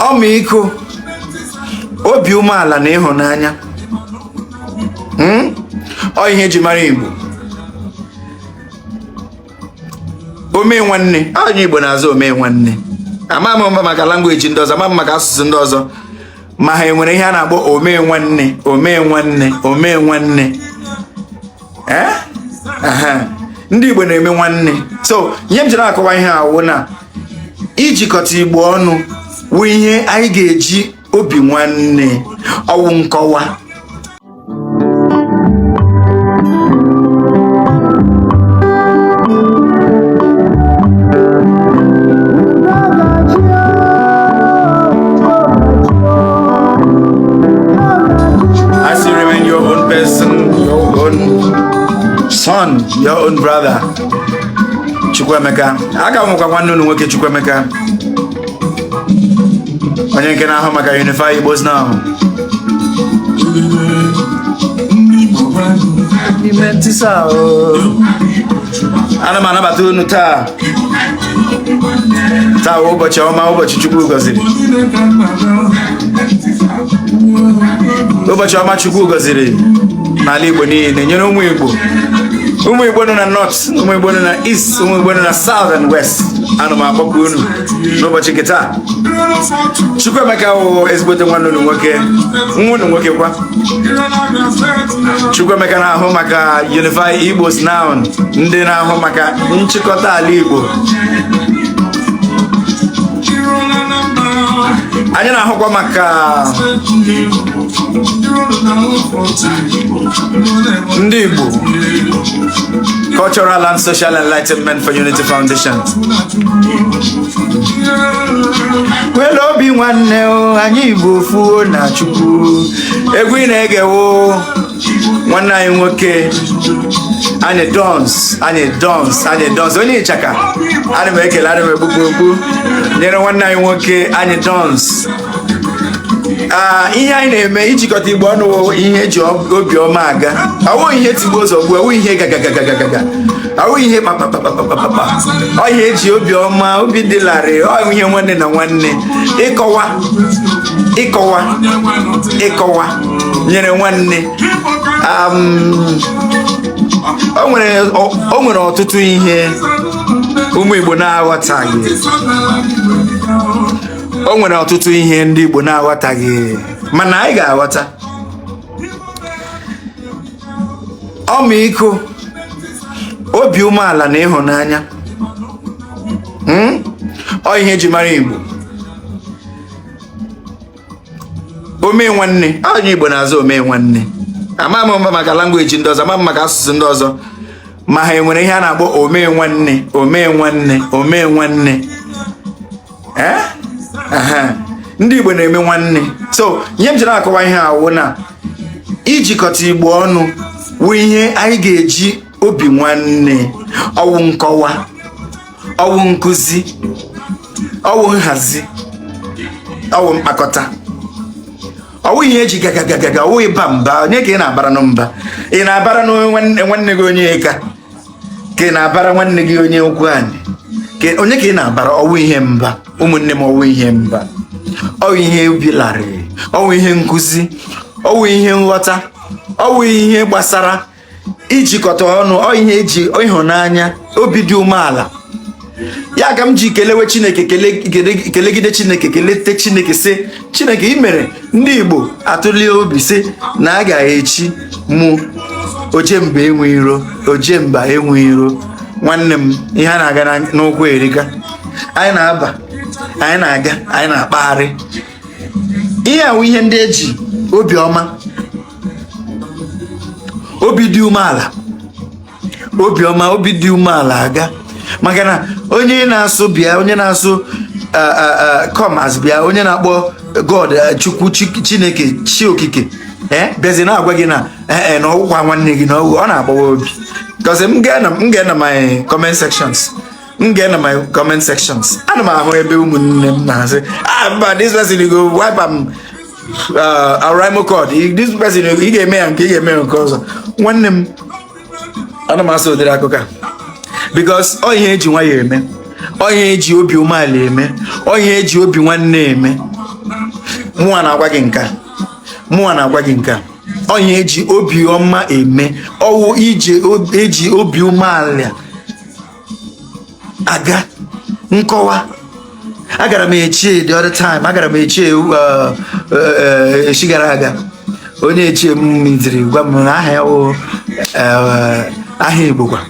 ọmịiko obi umeala na ịhụnanya hmm? ọ ihe eji mara igbo ome nwanne onye igbo na-aza ome nwanne ama m maka language ndị ọzọ ama m maka asụsụ ndị ọzọ ma ha enwere ihe a na-akpọ ome nwanne ome nwanne ome nwanne eh? ndị Igbo na-eme nwanne so ihe m jiri akọwa ihe a wụ na ijikọta Igbo ọnụ wụ ihe anyị ga-eji obi nwanne ọ wụ nkọwa still remain your own person, your own son, your own brother. Chukwuemeka. A ka m wụkwa nwanne unu nwoke Chukwuemeka. Onye nke na-ahụ maka Unify Igbos Now. ana m anabata unu taa taa ụbọchị ọma ụbọchị chukwu gọziri ụbọchị ọma chukwu gọziri n'ala igbo niile nyere ụmụ igbo ụmụ igbo nọ na north ụmụ igbo nọ na east ụmụ igbo nọ na south and west ana m akpọku unu n'ụbọchị nke taa chukwuemeka wụ ezigbote nwanne unu nwoke nwa unu nwoke kwa Chukwuemeka na-ahụ maka Unify Igbos Now ndị na-ahụ maka nchịkọta ala Igbo anyị na-ahụkwa maka ndị Igbo Cultural and Social Enlightenment for Unity Foundation well obi nwanne anyị Igbo fuo na Chukwu egwu ị na-ege wụ nwanne anyị nwoke anyidons anyidons anyidons onye ịchaka ana m ekele ana m ekpupụ okpu nyere nwanne anyị nwoke anyidons ihe anyị na-eme ijikọta igbo ọnụ ihe eji obiọma aga awụ ihe tigbuo zọgbuo awụ ihe gagagagagaga awụ ihe kpakpakpakpakpakpa ọ ihe eji obiọma obi dị larịị ọ ihe nwanne na nwanne ịkọwa ịkọwa ịkọwa nyere nwanne um, o nwere ọtụtụ ihe ụmụ Igbo na-aghọtaghị o nwere ọtụtụ ihe ndị Igbo na-aghọtaghị mana anyị ga-aghọta ọmịiko obi umeala na ịhụnanya hmm? ọ ihe eji mara Igbo ome nwanne onye Igbo na-aza ome nwanne ama m maka language ndị ọzọ ama m maka asụsụ ndị ọzọ ma ha enwere ihe a na-akpọ ome nwanne ome nwanne ome nwanne eh? ndị Igbo na-eme nwanne so ihe m ji na-akọwa ihe a wụ na ijikọta Igbo ọnụ wụ ihe anyị ga-eji obi nwanne ọwụ nkọwa ọwụ nkụzi ọwụ nhazi ọwụ mkpakọta ọwụ ihe eji gagagagaga ọwụ ịba mba onye ka ị na-abaranụ mba ị na-abara nwanne gị onye ka ka ị na-abara nwanne gị onye ukwu anyị onye ka ị na-abara ọwụ ihe mba ụmụnne m ọwụ ihe mba ọwụ ihe obi larịị ọwụ ihe nkụzi ọwụ ihe nghọta ọwụ ihe gbasara ijikọta ọnụ ọ ihe eji ịhụnanya obi dị umeala ya ka m ji kelewe chineke kelegide chineke kelete chineke sị chineke ị mere ndị igbo atụlie obi sị na a ga-echi mụ ojemba enwe iro ojemba enwe iro nwanne m ihe a na-aga n'ụkwụ erika anyị na-aba anyị na-aga anyị na-akpagharị ihe a wụ ihe ndị eji obi ọma obi dị umeala obi ọma obi dị umeala aga maka na onye na-asụ bịa onye na-asụ come as bịa onye na-akpọ god chukwu chineke chi okike ee bịazi na-agwa gị na ee na ọwụkwa nwanne gị na ọwụ ọ na-agbawa obi because m ga na my comment sections m ga na my comment sections ana m ahụ ebe ụmụnne m na-asị ah mba this person go wipe am oraimo cord this person ị ga-eme ya nke ị ga-eme ya nke ọzọ nwanne m ana m asọ ụdịrị akụkọ a because ọ ihe eji nwayọọ eme ọ ihe eji obi umeala eme ọ ihe eji obi nwanne eme mụnwa na-agwa gị nke a mụnwa na-agwa gị nke a ọ ihe eji obi ọma eme ọwụ ihe eji obi umeala aga nkọwa agara m echie the other time agara m echie uh, uh, uh, echi gara aga onye echie m meetiri gwa m na aha ya wụ aha Igbo kwa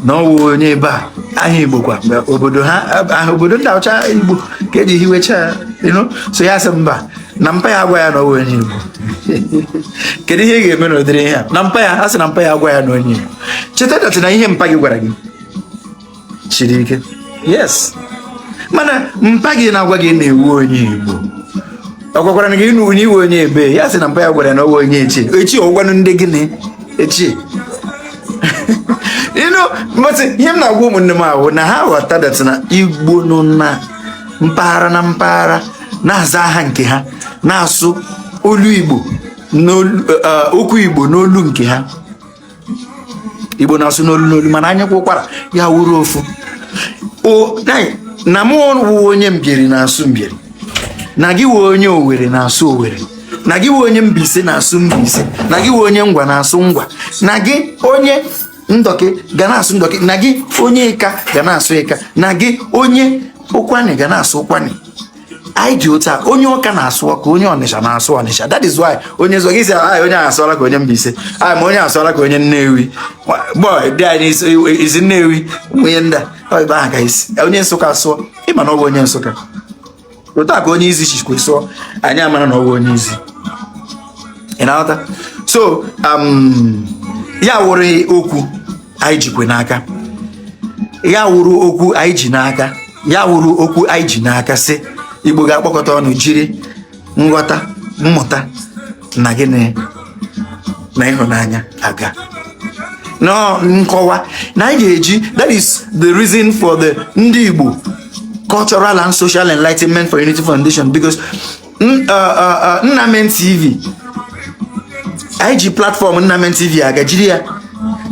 na ọ wụ onye ebe a aha Igbo kwa obodo ha obodo ndị ahụ cha Igbo ka e ji hiwecha so ya sị mba na mpa ya agwa ya na ọ wụ onye Igbo kedu ihe ị ga-eme n'ụdịrị ihe a na mpa ya a sị na mpa ya agwa ya na onye Igbo cheta that na ihe mpa gị gwara gị shiri ike yes mana mpa gị na-agwa gị na ị wụ onye Igbo ọ gwakwara gị na onye ị wụ onye ebe ya sị na mpa ya gwara ya na ọ wụ onye echie echie ọ wụkwanụ ndị gịnị echie you know but ihe m na-agwa ụmụnne m ahụ na ha ghọta that na Igbo nọ na mpaghara na mpaghara na-aza aha nke ha na-asụ olu igbo eh, okwu igbo n'olu nke ha igbo na-asụ n'olu n'olu mana anyị kwaa ụkwara ya wụrụ ofu na mụ wụ onye mbieri na-asụ mbieri na gị wụ onye owere na-asụ owere na gị wụ onye mbaise na-asụ mbaise na gị wụ onye ngwa na-asụ ngwa na gị onye ndọkị ga na-asụ ndọkị na gị onye ịka ga na-asụ ịka na gị onye ụkwanị ga na-asụ ụkwanị anyị dị otu a onye ọka na-asụ ọka onye ọnịsha na-asụ ọnịsha that is why onye sụọ gị sị anyị onye asụọla ka onye Mbaise anyị ma onye asụọla ka onye Nnewi boy dị anyị i si Nnewi onye ndị a ebe ahụ ka i si onye Nsụka asụọ ị ma na ọ bụ onye Nsụka otu a ka onye izi shikwe sụọ anyị amara na ọ bụ onye izi ị na-aghọta so um, ya wụrụ okwu anyị jikwe n'aka ya wụrụ okwu anyị ji n'aka ya wụrụ okwu anyị ji n'aka sị igbo ga-akpọkọta ọnụ jiri nghọta mmụta na gịnị na ịhụnanya aga na nkọwa na anyị ga-eji that is the reason for the ndị igbo cultural and social enlightenment for unity foundation because nnamen tv anyị ji platform nnamen tv aga jiri ya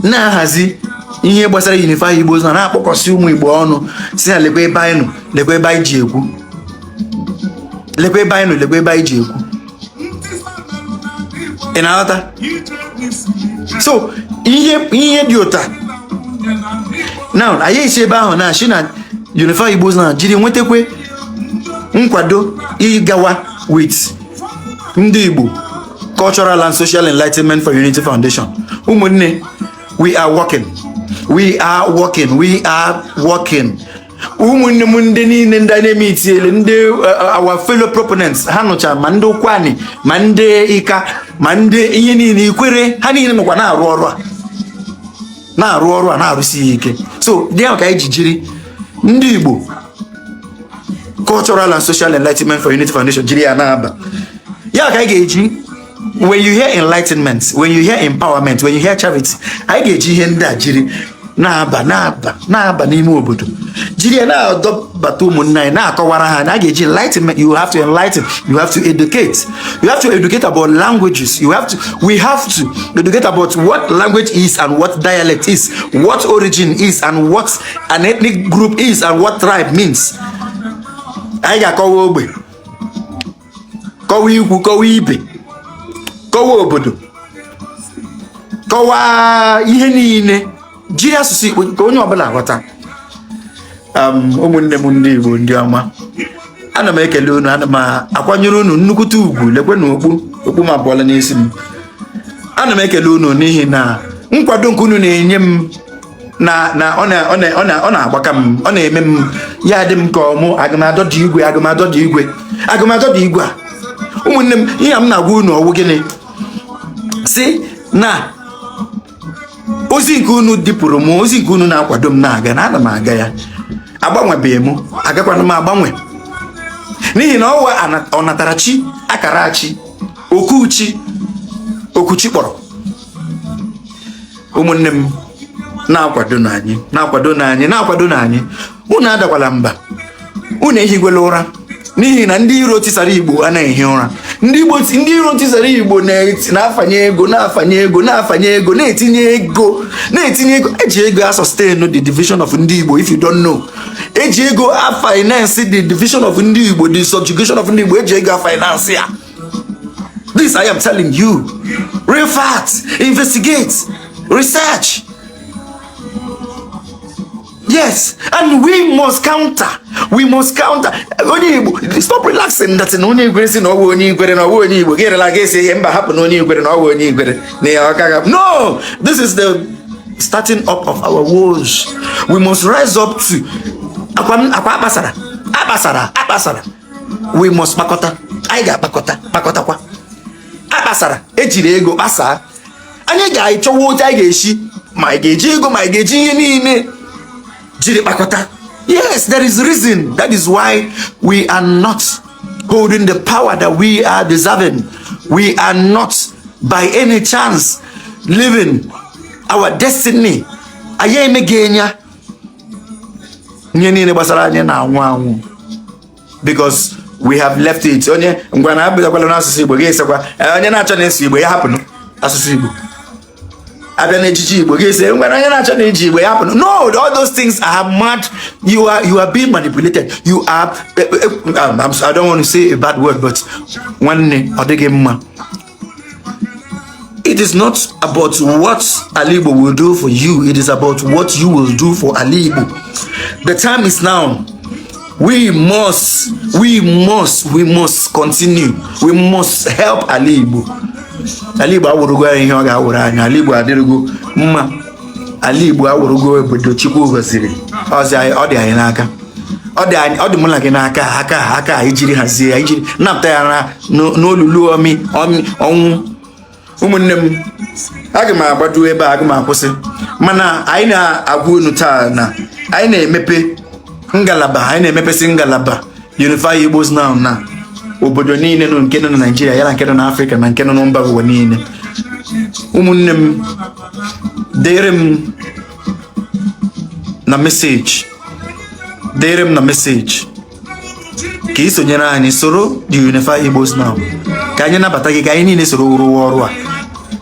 na-ahazi ihe gbasara unify igbo na na-akpọkọsị ụmụ igbo ọnụ sị na lekwa ebe anyị nọ lekwa ebe anyị ji ekwu lekwa ebe anyị nọ lekwa ebe anyị ji ekwu ị na-aghọta so ihe ihe dị otu a now anyị esi ebe ahụ na-asị na unify igbo na jiri nwetakwe nkwado ịgawa with ndị Igbo Cultural and Social Enlightenment for Unity Foundation ụmụnne we are working we are working we are working ụmụnne m ndị niile ndị na-eme itiele ndị uh, uh, our fellow proponents ha ncha ma ndị Ụkwụanị ma ndị Ịka ma ndị ihe niile Ikwerre ha niile nọkwa na-arụ ọrụ a na-arụ ọrụ a na-arụsi ya ike so dị ahụ ka anyị ji jiri ndị Igbo cultural and social enlightenment for unity foundation jiri ya na-aba ya ka anyị ga-eji when you hear enlightenment when you hear empowerment when you hear charity anyị ga-eji ihe ndị a jiri na-aba na-aba na-aba n'ime obodo jiri ya na-adọbata ụmụnne anyị na-akọwara ha na a ga-eji enlightenment you have to enlighten you have to educate you have to educate about languages you have to we have to educate about what language is and what dialect is what origin is and what an ethnic group is and what tribe means anyị ga-akọwa ogbe kọwa ikwu kọwa ibe kọwa obodo kọwa ihe niile jiri asụsụ Igbo ka onye ọbụla ghọta um, ụmụnne m ndị Igbo ndị ọma ana m ekele unu ana m akwanyere unu nnukwute ugwu lekwe na okpu okpu m apụọla n'isi m ana m ekele unu n'ihi na nkwado nke unu na-enye m na na ọ na- ọ na- ọ na- ọ na-agbaka m ọ na-eme m ya dị m ka ọ mụ aga m adọda igwe aga m adọda igwe aga m adọda igwe a ụmụnne m ihe m na-agwa unu ọwụ gịnị sị na ozi nke unu dupụrụ m ozi nke unu na-akwado m na-aga na ana m aga ya agbanwebeghị m agakwana m agbanwe n'ihi na ọwụ ana- ọnatarachi akara chi oku chi oku chi kpọrọ ụmụnne m na-akwadonụ anyị na-akwadonụ anyị na-akwadonụ anyị unu adakwala mba unu ehikwela ụra n'ihi na ndị iro tisara igbo anaghị ehi ụra ndị igbo ndị iro tisara igbo na-afanye ego na-afanye ego na-afanye ego na-etinye ego na-etinye ego eji ego a sustain the division of ndị igbo if you don't know eji ego a finance the division of ndị igbo the subjugation of ndị igbo eji ego a finance ya This I am telling you. Real facts. Investigate. Research. Yes, and we must counter. We must counter. Onye Igbo, stop relaxing that in onye Igbo sị na ọwụ onye Igbo na ọwụ onye Igbo. Gịnị la ga-esi ihe mba hapụ na onye Igbo na ọwụ onye Igbo na ya ọkaga. No, this is the starting up of our wars. We must rise up to akwa akpasara akpasara akpasara we must kpakọta anyị ga-akpakọta kpakọtakwa a kpasara ejiri ego kpasaa anyị ga-achọwa otu anyị ga-esi ma anyị ga-eji ego ma anyị ga-eji ihe niile jiri kpakọta yes there is reason that is why we are not holding the power that we are deserving we are not by any chance living our destiny anyị emeghị enya ihe niile gbasara anyị na-anwụ anwụ because we have left it onye ngwa na abịakwala n'asụsụ Igbo ga-asịkwa eh, onye na-achọ na-asụ Igbo ya hapụnụ asụsụ Igbo abịa n'ejiji Igbo ga-asị ngwanụ onye na-achọ na iji Igbo ya hapụnụ no all those things are mad you are you are being manipulated you are eh, eh, um, I don't want to say a bad word but nwanne ọ dịghị mma It is not about what Alibo will do for you. It is about what you will do for Alibo. The time is now. We must, we must, we must continue. We must help Alibo. Alibo awụrụgo ya ihe ọ ga-awụrụ anya. Alibo adịrịgo mma. ala igbo awụrụgo obodo chukwu gọziri ọ dị anyị- ọ dị anyị n'aka ọ dị anyị- ọ dị mụ na gị n'aka aka aka anyị jiri hazie ya ijiri napụta ya na n'o- n'olulu ọmị ọmị ọnwụ ụmụnne m aga m agbado ebe a aga m akwụsị mana anyị na-agwa unu taa na anyị na-emepe ngalaba anyị na-emepesị ngalaba Unify Igbos Now na obodo niile nọ nke nọ na Naịjirịa ya na nke nọ n'Afrịka na nke nọ na mba ụwa niile ụmụnne m dere m na message dere m na message ka ị sonyere anyị soro the Unify Igbos Now ka anyị nabata gị ka anyị niile soro rụwa ọrụ a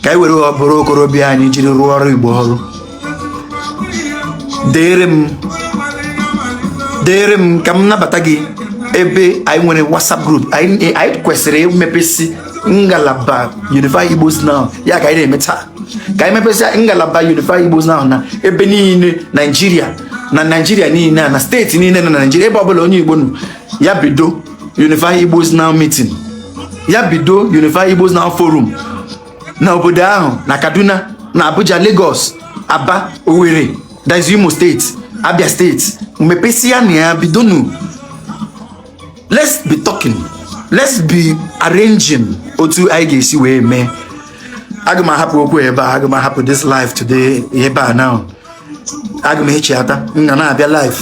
ka anyị were ọbụrụ okorobịa anyị jiri rụọrọ Igbo ọrụ dere m dere m ka m nabata gị ebe anyị nwere WhatsApp group anyị kwesịrị imepesi ngalaba Unify Igbos Now ya ka anyị na-eme taa ka anyị mepesịa ngalaba Unify Igbos Now na ebe niile Naijiria na Naijiria niile na steeti niile na Naijiria ebe ọbụla onye Igbo nọ ya bido Unify Igbos Now meeting ya bido Unify Igbos Now forum na obodo ahụ na Kaduna na Abuja Lagos Aba Owerri that's Imo steeti Abia steeti mepesịanụ ya bidonụ let's be talking let's be arranging otu anyị ga-esi wee mee aga m ahapụ okwu ebe a aga m ahapụ this live today ebe a now aga m echeta m ga na-abịa live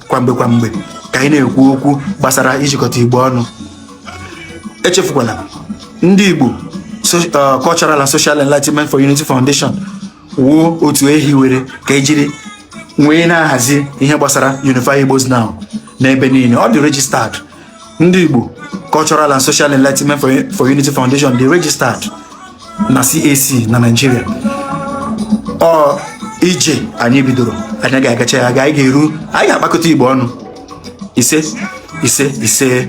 kwamgbe kwamgbe ka anyị na-ekwu okwu gbasara ijikọta igbo ọnụ echefukwala ndị igbo so- uh, cultural and social enlightenment for unity foundation wụ otu e hiwere ka ejiri nwee na-ahazi ihe gbasara Unify Igbos Now n'ebe niile ọ dị registered ndị Igbo Cultural and Social Enlightenment for, for Unity Foundation dị registered na CAC na Nigeria ọ ije anyị bidoro anyị ga-agacha ya ga anyị ga-eru anyị ga-akpakọta Igbo ọnụ ise ise ise